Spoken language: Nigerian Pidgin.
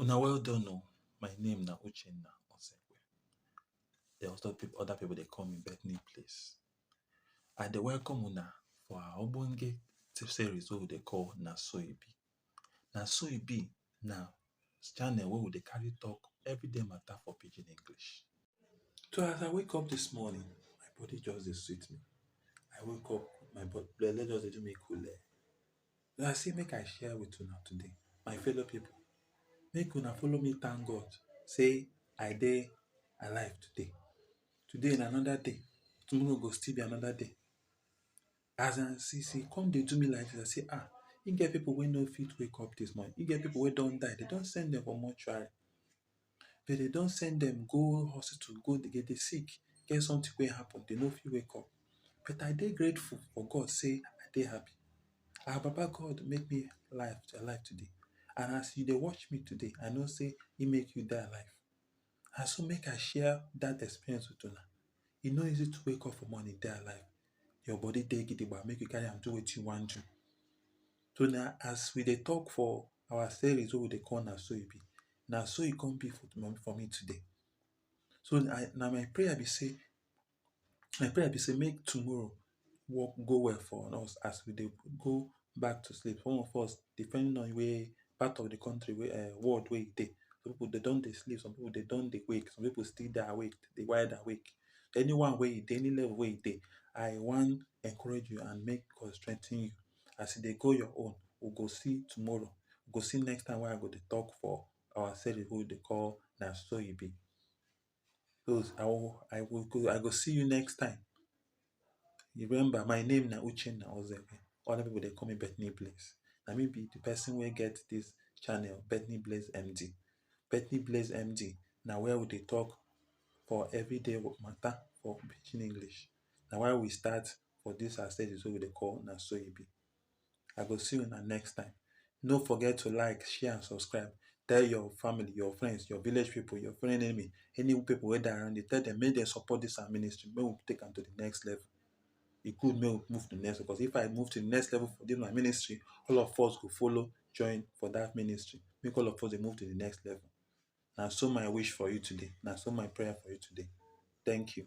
Una well done oh, my name na Uchenna Osekwe. Then other people, other people dey call me Bethany Place. I dey welcome una for our ogbonge series wey we dey call Na So E Be. Na So E Be na channel wey we dey carry talk everyday matter for pidgin English. So as I wake up this morning, my body just dey sweet me. I wake up, my body, belle just dey do me kule. Like sey make I share with una today my fellow pipu, make una follow me thank God sey I dey alive today. Today na another day, tomorrow go still be another day. As I see sey e come dey do me like dis, I say ah, e get pipu wey no fit wake up dis morning. E get pipu wey don die, de don send dem go mortuary. dem dey don send dem go hospital go dey dem dey sick get something wey happen dem no fit wake up but I dey grateful for God sey I dey happy ah baba God make me live to alive today and as you dey watch me today I know sey e make you dey alive na so make I share that experience with una e no easy to wake up for morning dey alive your body dey gidigba make you carry am do wetin you wan do so na as we dey talk for our service wey we dey call na so e be na so e come be for my for me today so i na my prayer be sey my prayer be sey make tomorrow work go well for us as we dey go back to sleep some of us depending on where part of the country wey um world wey you dey some people dem don dey sleep some people dem don dey wake some people still dey awake dey wide awake anyone wey you dey any level wey you dey i wan encourage you and make God strengthen you as you dey go your own we go see tomorrow we go see next time wey I go dey talk for our series wey we dey call na so e be cos I go I go go I go see you next time remember my name na uchenna ozekhwel other people dey call me Bethany Blaze na me be the person wey get this channel Bethany Blaze MD Bethany Blaze MD na where we dey talk for everyday matter for pidgin English na why we start for dis our stages wey we dey call Na So E Be. I go see una next time. No forget to like, share and subscribe. Tell your family, your friends, your village people, your friend enemy, any people wey dey around you, tell them make dem support dis our ministry, make we take am to the next level. E good make we move to the next level because if I move to the next level for dis my ministry, all of us go follow join for dat ministry. Make all of us dey move to the next level. Na so my wish for you today. Na so my prayer for you today. Thank you.